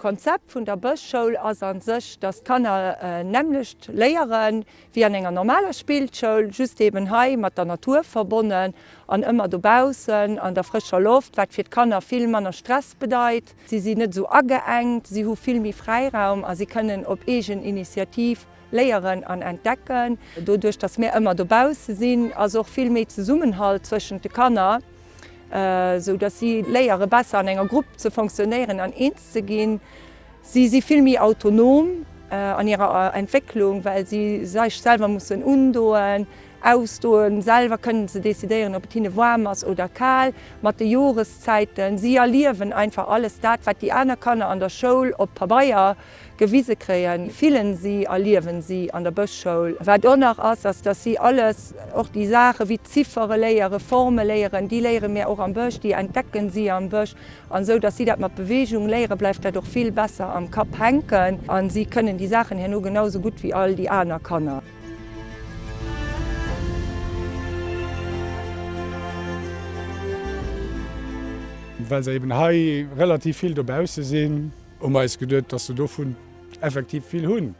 D'Konzept vun der Bëschschoul ass a sech, datt d'Kanner nämmlecht léieren, Wéi an enger normaler Spillschoul, just eben hei mat der Natur verbonnen an ëmmer dobaussen an der frëscher Loft, wat fir d'Kanner vill manner Stress bedeit. Si sinn net esou ageengt, si hu vill méi Fräiraum a si kënnen op eegen Initiativ léieren an entdecken. Doduerch, dass mir ëmmer dobausse sinn, ass och vill méi Zesummenhalt zwëschent de Kanner, sou dass si léiere besser an enger Grupp ze fonctionnéieren an eens ze ginn. Si si vill méi autonom an hirer Entwécklung, well si sech selwer mussen undoen, ausdoen. Selwer kënnen se decidéieren, ob et hinne waarm ass oder kal mat de Joreszäiten. Si erliewen einfach alles dat, wat déi aner Kanner an der Schoul op Pabeier gewise kréien, fillen si a liewen si an der Bëschschoul. Wat och nach ass, ass, dass si alles, och déi Saachen, wéi d'Ziffere léieren, Forme léieren, déi léiere mir och am Bësch, déi entdecken si am Bësch. An esou dass si dat mat Beweegung léieren, bleift dat och vill besser am Kapp hänken a si kënnen déi Saachen herno genau sou gutt wéi all déi aner Kanner. Well se eben hei relativ vill dobausse sinn, hu mer eis geduet, dass se dovun effektiv vill hunn,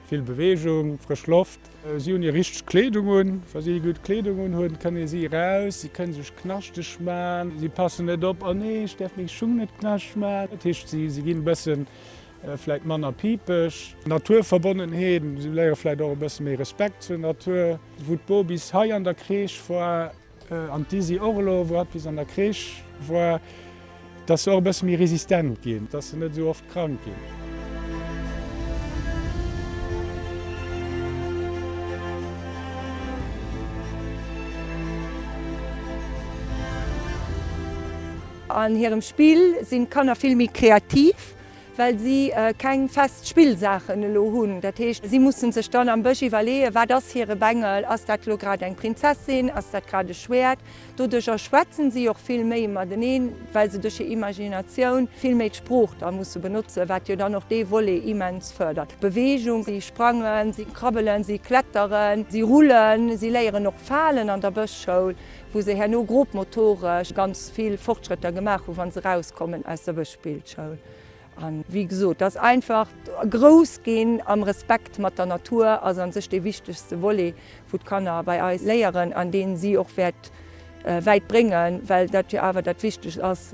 vill Beweegung, frësch Loft. Si hunn hir richteg Kleedung un. Wa si gutt Kleedung unhunn, kënne si eraus. Si kënne sech knaschteg man. Si passen net op, Oh nee, ech däerf meng Schung net knaschteg man. Dat heescht, si ginn e bëssen vläicht manner pipeg. Naturverbonnenheet, Si léiere vläicht och e bësse méi Respekt zur Natur. Wou d'Bobys hei an der Crèche war. An d'Izzy och elo, wou hatt bis an der Crèche war, dass se och e bësse méi resistent ginn, dass se net esou oft krank ginn. An hirem Spill sinn d'Kanner vill méi kreativ. well si keng fest Spillsaachen elo hunn, dat heescht si musse sech dann am Bësch iwwerleeën, wat ass hire Bengel, ass dat elo grad eng Prinzessin, ass dat grad e Schwäert. Doduercher schwätze si och vill méi mateneen, well se duerch hir Imaginatioun vill méi d'Sprooch da musse benotzen, wat jo dann och dee Volet immens fërdert. Beweegung, si sprangen, si krabbelen, si kletteren, si rullen, si léieren och falen an der Bëschschoul. wou se herno grobmotoresch ganz vill Fortschrëtter gemaach hunn, wa se erauskommen aus der Bëschspillschoul. A wéi gesot, dass einfach grouss ginn am Respekt mat der Natur ass a sech dee wichtegste Volet, wou d'Kanner bei eis léieren an deen si och wäert wäit bréngen, well dat jo awer dat Wichtegst ass,